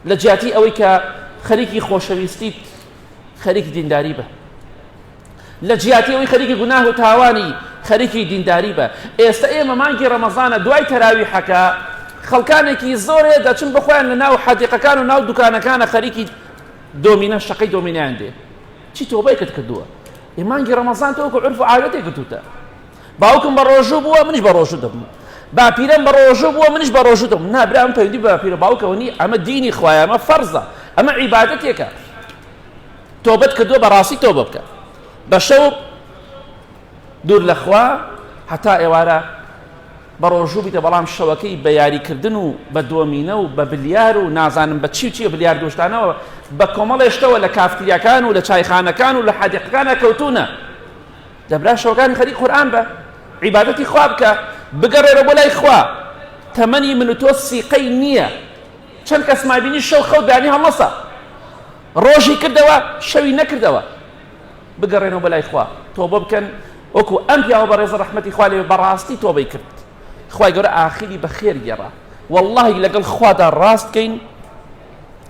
لە جیاتی ئەوەی کە خەریکی خۆشەویستیت خەریکی دینداری بە لە جیاتی ئەوەی خەریکی گوناه و تاوانی خەریکی دینداری بە ئێستا ئێمە مانگی ڕەمەزانە دوای تەراوی حەکە خەڵکانێکی زۆرێ دەچن بخۆیان لە ناو حەدیقەکان و ناو دوکانەکانە خەریکی دۆمینە شەقەی دۆمینیان دێ چی تۆبای کرد کردووە ئێمانگی ڕەمەزان تۆکو عرف و عادەتێک گرتوتە باوکم بەڕۆژوو بووە منیش بەڕۆژوو دەبم باپیرەم بەڕۆژوو بووە منیش بەڕۆژوو دەبم نا برام پەیوەندی بە باپیرە باوکەوە نی ئەمە دینی خوایە ئەمە فەرزە ئەمە عیبادەتێکە تۆبەت کردووە بەڕاستی تۆبە بکە بە شەو دوور لەخوا هەتا ئێوارە بەڕۆژوو بیتە بەڵام شەوەکەی بە یاریکردن و بە دۆمینە و بە بلیار و نازانم بە چی و چیە بلیار دۆشتانەوە بە کۆمەڵێشتەوە لە کافتریاکان و لە چایخانەکان و لە حادقەکانە کەوتونە دەبرا شەوگانی خەریک قورئان بە عیبادەتی خوا بکە بگەڕێرە بۆ لای خوا تەمەنی من و تۆ سیقەی نییە چەند کەس مابینی شەو خەو دانی هەڵمەسە ڕۆژی کردەوە شەوی نەکردەوە بگەڕێنەوە بە لای خوا تۆ بە بکەن وەکو ئەم پیاوە بە ڕێزە ڕحمەتی خوا لێ بەڕاستی تۆبەی کرد خی گەورە ئاخیری بە خێر گێڕا واللهی لەگەڵ خوادا ڕاستکەین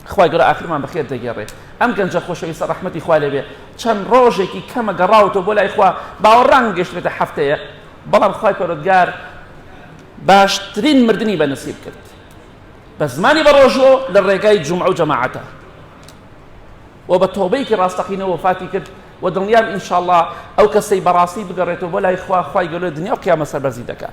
خوای گەورە ئاخرمان بەخێر دەگێڕێ ئەم گەنجە خۆشەویستە ڕەحمەتی خوا لەوێ چەند ڕۆژێکی کەمە گەڕاوەوە بۆ لای خوا باوە ڕەنگ گەشتێتە هەفتەیە بەڵام خوای پەرۆتگار باشترین مردنی بە نسیب کرد بە زمانی بە ڕۆژۆ لە ڕێگای جمع و جەماعەتە و بە تۆبەیەکی ڕاستەقینەوە فاتی کرد و دڵنیام ئینشاءله ئەو کەسەی بەڕاستی بگەڕێتەوە بۆ لای خوا خخوای گەلو دنیا و قیامە سەربەرزی دەکات